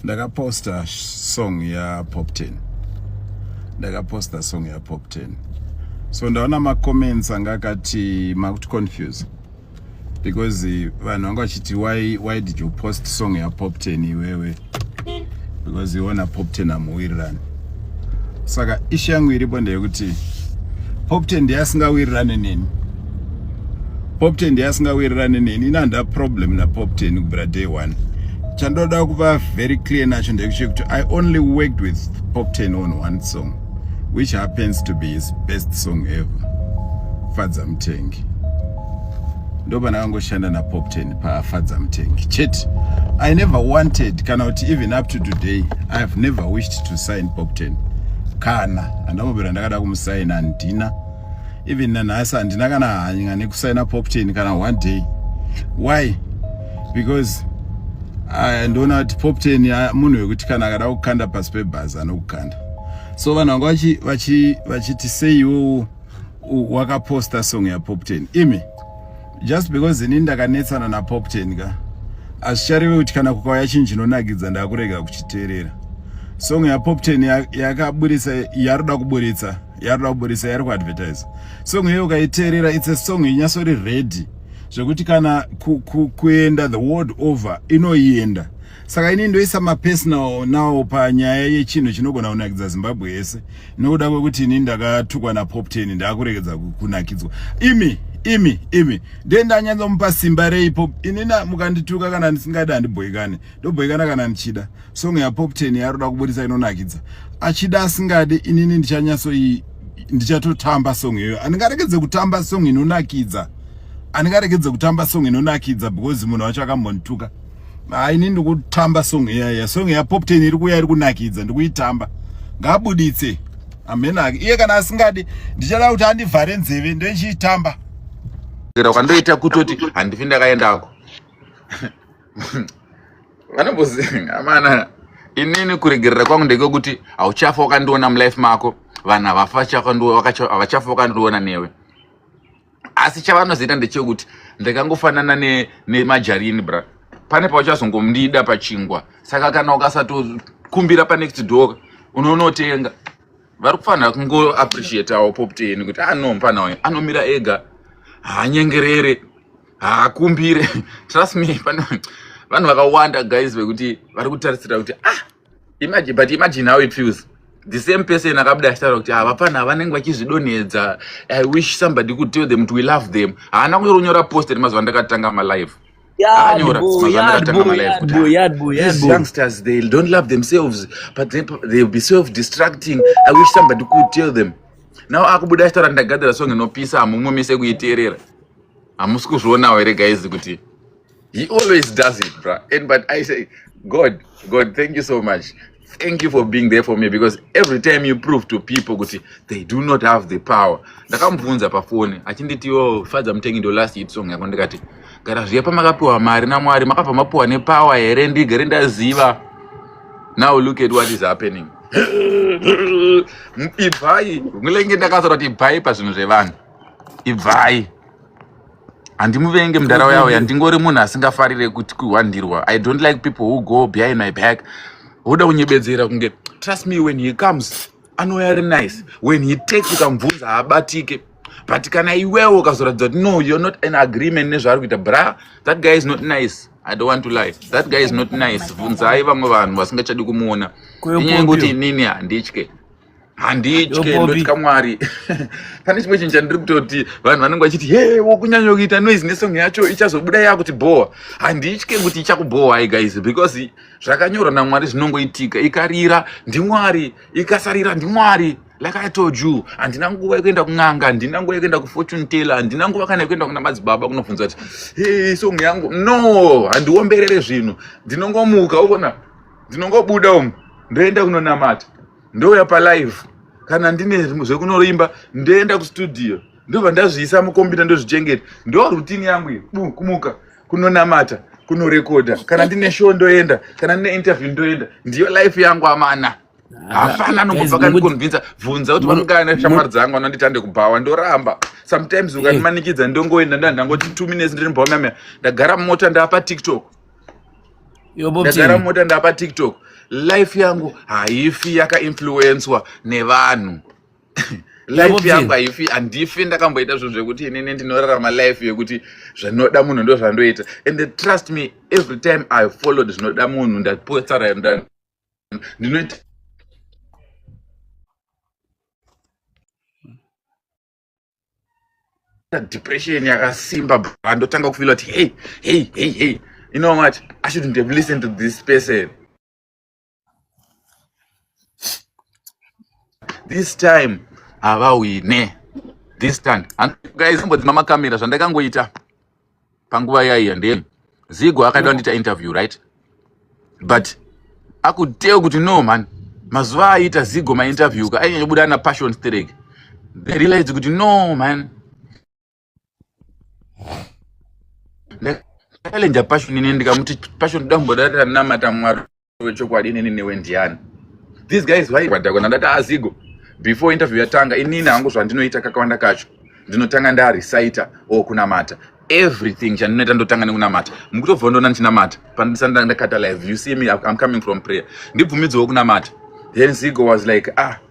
ndakaposta song yapop 10 ndakaposta song yapop 10 so ndaona macomments anga akati makuti confuse because eh, vanhu vanga vachiti why, why did you post song yapop 10 iwewe because iona pop 10 amuwirirani saka ishu yangu iripo ndeyekuti popte ndiye asingawirirane neni popte ndiye asingawirirane neni ini handina problem napopte kubvira day one chandoda kuva very clear nacho ndekuti kuti i only worked with popten on one song which happens to be his best song ever fadza mutengi ndopana kangoshanda napopten pafadza mutengi chete i never wanted kana kuti even up to today i have never wished to sign popten kana handambobira ndakada kumusaina handina even nanhasi handina kana hanya nekusaina popten kana one day why because ah, ndoona kuti popten ah, munhu wekuti kana akada kukanda pasi pebhazi anokukanda so vanhu vanga vachiti seiwowo wakaposta song yapopten imi just because ini ndakanetsana napopten ka hazvichareve kuti kana kukauya chinhu chinonakidza ndakurega kuchiteerera song yapopten yakaburitsa yaroda kuburitsa yaroda kuburitsa yari kuadvertise song iyoyo ukaiteerera its a song inyasori ready zvekuti kana kuenda the world over inoienda saka ini ndoisa mapersonal now panyaya yechinhu chinogona kunakidza zimbabwe yese nokuda kwekuti ini ndakatukwa napop ten ndaakuregedza kunakidzwa imi imi imi nde ndanyanzomupa simba rei pop ini mukandituka kana ndisingadi handibhoikane ndobhoikana kana ndichida song yapop ten yaroda kuburitsa inonakidza achida asingadi inini ndichanyasoi ndichatotamba song iyoyo andingarekedze kutamba song inonakidza andingarekedze kutamba song inonakidza because munhu wacho akambondituka ah, ini ndikutamba song iyaya song yapopten iri kuya iri kunakidza ndikuitamba ngabuditse amenake iye kana asingadi ndichada kuti andivhare nzeve ndoichiitamba kwandoita kutoti handifi ndakaendako vanomboziva amana inini kuregerera kwangu ndekwekuti hauchafa wakandiona mulife mako vanhu havachafa wakandiona newe asi chavanozoita ndechekuti ndakangofanana nemajarini ne bra pane pauchazongomdida pachingwa saka kana ukasatokumbira panext door unonotenga vari kufanira kungoappreciatawo popteni kuti ano ah, mfana wayo anomira ega haanyengerere haakumbire trust me pane vanhu vakawanda guys vekuti vari kutarisira kuti ah imagine but imagine how it feels the same person akabuda achitaura kuti ah, vapfana vanenge vachizvidonhedza i wish somebody could tell them to we love them haana kunyora kunyora post ri mazuva ndakatanga malive youngsters they don't love themselves but they, they'll be self distracting i wish somebody could tell them now akubuda achitaura ndagadzira song inopisa hamumwe mese kuiteerera hamusi kuzvionawo here guys kuti He always does it, bro. And but I say, God, God, thank you so much. Thank you for being there for me because every time you prove to people kuti they do not have the power. Ndakamubvunza pafoni achinditi yo fadza mutengi ndo last hit song yako ndikati gara zviya pamakapiwa mari naMwari makabva mapiwa nepower here ndigere ndaziva. Now look at what is happening. Ibvai, ngulenge ndakasora kuti ibvai pazvinhu zvevanhu. Ibvai. handimuvenge mudhara uya uya ndingori munhu asingafarire kuti kuhwandirwa i don't like people who go behind my back woda kunyebedzera kunge trust me when he comes anouya ari nice when he takes ukamubvunza haabatike but kana iwewo ukazoratidza kuti no you're not an agreement nezvaari kuita bra that guy is not nice i don't want to lie that guy is not nice bvunzai vamwe vanhu vasingachadi kumuona inyaya yekuti inini handitye handitye ndotya mwari pane chimwe chinhu chandiri kutoti vanhu vanenge vachiti he wokunyanya kuita noise nesong yacho ichazobuda yakuti bhowa handitye kuti ichakubhowa i guys because zvakanyorwa namwari zvinongoitika ikarira ndimwari ikasarira ndimwari like i told you handina nguva yekuenda kun'anga handina nguva yekuenda kufortune teller handina nguva kana yekuenda kuna madzibaba kunobvunza kuti he song yangu no handiomberere zvinhu ndinongomuka ukona ndinongobuda umu ndoenda kunonamata ndouya palive kana ndine zvekunoimba ndoenda kustudio ndobva ndazviisa mukombiyuta ndozvichengeta ndo rutini yangu iyo bu kumuka kunonamata kunorekodha kana ndine show ndoenda kana ndine interview ndoenda ndiyo life yangu amana ah, hapana anongobva kandikonvinsa bvunza kuti vanogana shamwari dzangu anonditande kubhawa ndoramba sometimes eh. ukandimanikidza ndongoenda ndandangotitu minutes ndiri mbawamamea ndagara mumota ndapa tiktok ndagara mota ndapa tiktok life yangu haifi yakainfluenswa nevanhu life yangu haifi handifi ndakamboita zvinhu zvekuti inini ndinorarama life yekuti zvinoda munhu ndo zvandoita and trust me every time i followed zvinoda munhu ndapotsara ndinoita depression yakasimba bra ndotanga kufila kuti hey hey hey hey you know what i shouldn't have listened to this person this time havawine this time guys imbodzima makamera zvandakangoita panguva yaiya ndee zigo akaida kundita interview right but akuteo kuti no man mazuva aiita zigo mainterview ka ainyanya kubuda ana passion sterek they realize kuti no man ndakalenja passion ine ndikamuti passion dambo dati ranamata mwari wechokwadi inini newe ndiani these guys vaivadhakona ndati azigo before interview yatanga inini hangu zvandinoita kakawanda kacho ndinotanga ndarecita or kunamata everything chandinoita ndotanga nekunamata mukutobva ndoona ndichinamata pandisanda ndakata live you see me i'm coming from prayer ndibvumidzewo kunamata then zigo was like ah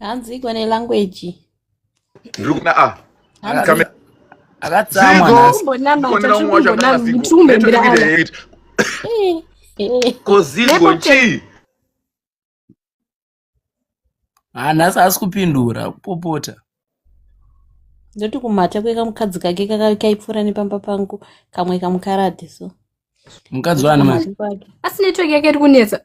hanzi iko nelanguage ndiri kuda a Hanzi- akatsamwa Dziko. nhasi kumbonamata chiri kumbonamata chiri kumbembera ana Eh, eh. kozigo Nepo chii Ah, nhasi haasi kupindura kupopota ndoti kumhata kwekamukadzi kake kaka- kaipfuura nepamba pangu kamwe kamukarati so mukadzi wani manje Asi network yake iri kunetsa.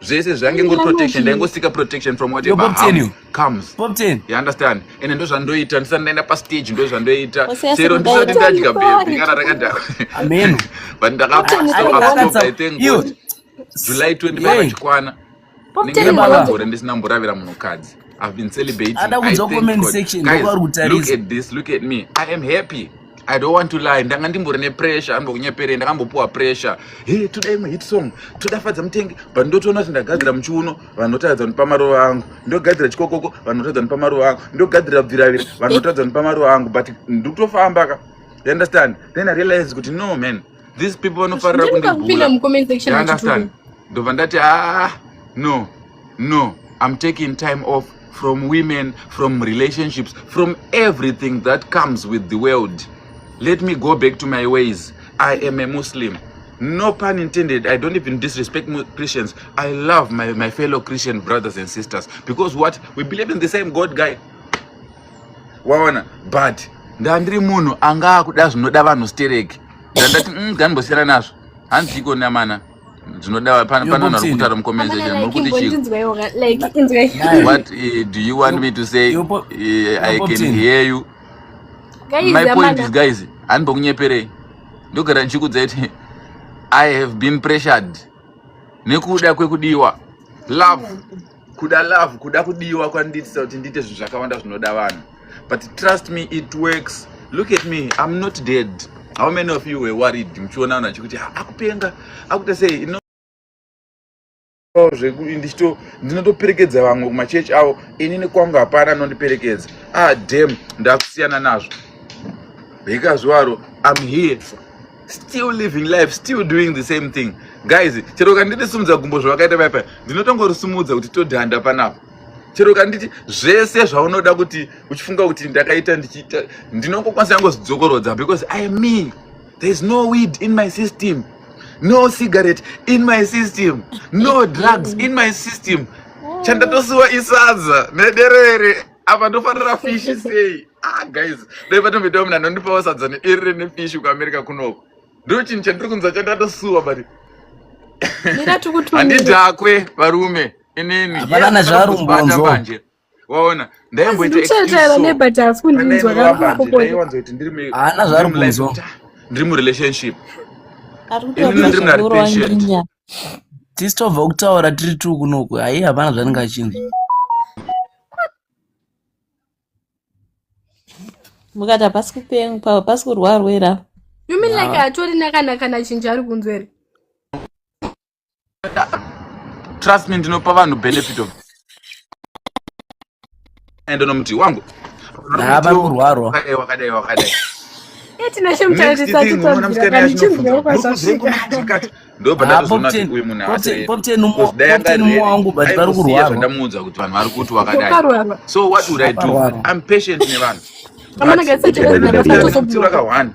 zvese zvange ngori protection ndaingosika protection from whatever harm comes you understand ende ndo zvandoita ndisati ndaenda pastage ndo zvandoita chero ndisati ndadya baby kana rakadhakwa amen but ndakapasova i thank god july 25 achikwana ndinge ndakagore ndisina mboravira munhukadzi I've been celebrating. I thank God. Guys, look at this. Look at me. I am happy. i don't want to lie ndanga ndimbori nepressure anoda kunyeperei ndakambopuwa pressure he toda imwe hit song toda fadza mutengi but ndotoona kuti ndagadzira muchiuno vanotaridza kunipa maruva angu ndogadzira chikokoko vanotaridza kunipa maruva angu ndogadzira bviravira vanotaridza kunipa maruva angu but ndikutofamba ka you understand then i realize kuti no man these people vanofarira kundibuaunderstand ndobva ndati ah no No, I'm taking time off from women, from relationships, from everything that comes with the world. Let me go back to my ways. I am a Muslim. No pun intended. I don't even disrespect Christians. I love my, my fellow Christian brothers and sisters because what? We believe in the same God guy. Waona, but ndandiri munhu anga akuda zvinoda vanhu stereki ndandati mm, gandimbosiyana nazvo hanzi iko namana ndinoda panonhu ari kutaura mucommensation muri kuti chii what eh, do you want me to say eh, i can hear you my point is guys handibokunyeperei ndogara ndichikudza kuti i have been pressured nekuda kwekudiwa love kuda love kuda kudiwa kwandiitisa kuti ndiite zvinhu zvakawanda zvinoda vanhu but trust me it works look at me i'm not dead how many of you were worried muchiona vanhu vachikuti ah, akupenga akuita sei ino ndichito ndinotoperekedza vamwe kumachechi avo ini nekwangu hapana anondiperekedza ah dam ndakusiyana nazvo hekazvivaro i'm here still living life still doing the same thing guys chero kanditisumudza gumbo zvavakaita vaya paya ndinotongorisumudza kuti todhanda panapa chero kanditi zvese zvaunoda kuti uchifunga kuti ndakaita ndichiita ndinongokwanisa yangozidzokorodza because i am me there is no weed in my system no cigarette in my system no drugs in my system chandatosiwa isadza nederere apa ndofanira fishi sei ah guys dai patomboitawo mina nondipawo sadza neiri rine fishi kuamerica kunoko ndo chinhu chandiri kunzwa chandatasuwa but handidhakwe varume inini hapana zvarumbonzwa waona ndaimbotaiwanzoitindirihaana zvarumbonzwa ndiri murelationship ini ndiri muna repatient tisitobva kutaura tiri tu kunoku hayi hapana zvanenge achinzi mukati hapasi kupengwa hapasi kurwarwera you mean like atori nakanakana chinja ari kunzwa here trust me ndinopa vanhu benefit of enda nomuti wangu vari kurwarwa wakadai wakadai ndopandamuudza kuti vanhu vari kuti wakadai so what would i do i'm patient nevanhu vakawanda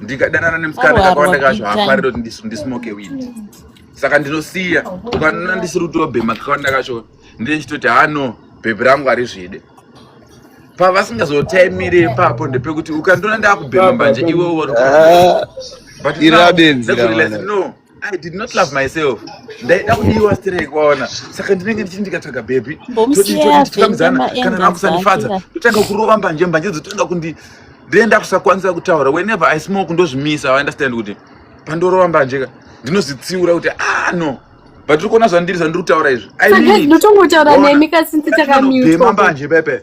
ndikadanana nemusikana kakawanda kacho haafarire kuti ndismoke weed saka ndinosiya ukanona ndisiri kutobhema kakawanda kacho ndechitoti hano bhebhi rangu harizvide pavasingazotaimire ipapo ndepekuti ukandiona ndakubhema mbanje iwe uwo ah, but now, I did not love myself. Ndaida kudiwa straight kwaona. Saka ndinenge ndichiti ndikatsvaga baby. Totitambizana kana nakusanifadza. Totanga kurova mbanje mbanje dzotanga kundi then ndakusakwanisa kutaura whenever I smoke ndozvimisa I understand kuti pandorova mbanje ka ndinozvitsiura kuti ah no but tiri kuona zvandiri zvandiri kutaura izvi. I mean. Ndinotongotaura nemi kasi nditakamute. Ndema mbanje pepe.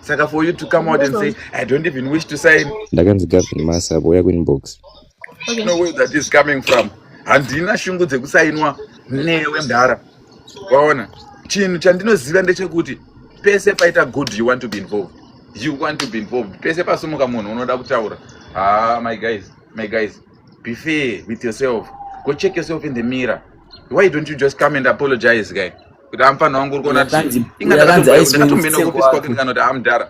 saka for you to come out and say i don't even wish to sign ndakanzi gavin masa boya kuinbox okay. no where that is coming from handina shungu dzekusainwa newe mdhara waona chinhu chandinoziva ndechekuti pese paita good you want to be involved you want to be involved pese pasumuka munhu unoda kutaura ah my guys my guys be fair with yourself go check yourself in the mirror why don't you just come and apologize guy kuti amfana wangu uri kuona ingaaaofisikwaketikana kuti amdhara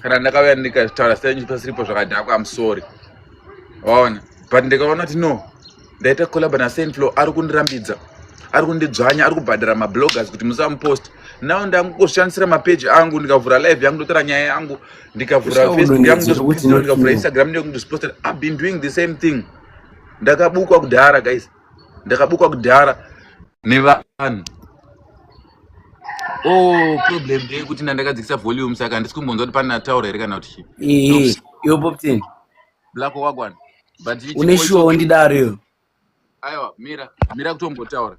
kana ndakauya ndikataura senyipasiripo zvakadhakwa amusori waona but ndikaona kuti no ndaita collab nasenflow ari kundirambidza ari kundidzvanya ari kubhadhara mabloggers kuti musamupost now ndangoshandisira mapeji angu ndikavhura live yangu ndotora nyaya yangu ndikavhura facebook yangu ndikavhura instagram ndikundizvipostera i've been doing the same thing ndakabukwa kudhara guys ndakabukwa kudhara nevanhu oh problem ndeyekuti ndandakadzikisa volume saka handisi kumbonzwa kuti pane ataura here kana kuti chii yo poptin black wagwana but une shuwa wondidaro yo aiwa mira mira kutombotaura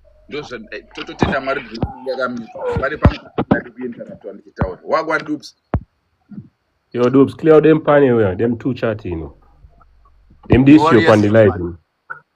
eh, tototenda mwari yakamira pane pamudadi kuinteractwa ndichitaura wagwa dups yo dups clear dem pane uya dem two chat ino dem disio pandilive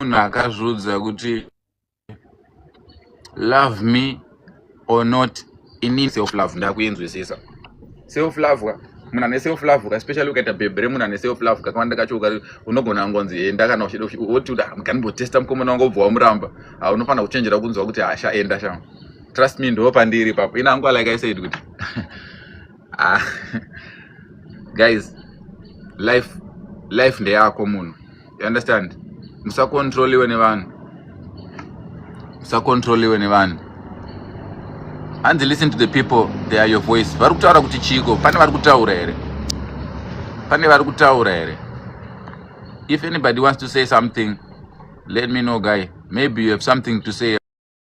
munhu akazviudza kuti love me or not ini self love ndakuinzwisisa self love ka munhu ane self love ka especially ukaita bhebhi remunhu ane self love kakawanda kacho ukari unogona kungonzi enda kana uchida woti uda mukanimbotesta mukomana wanga ubva wamuramba ha unofanira kuchenjera kunzwa kuti hasha enda shama trust me ndo pandiri ipapo ini angu like i said kuti ah, guys life life ndeyako munhu you understand musakontroliwe nevanhu musakontroliwe nevanhu hanzi listen to the people they are your voice vari kutaura kuti chiiko pane vari kutaura here pane vari kutaura here if anybody wants to say something let me know guy maybe you have something to say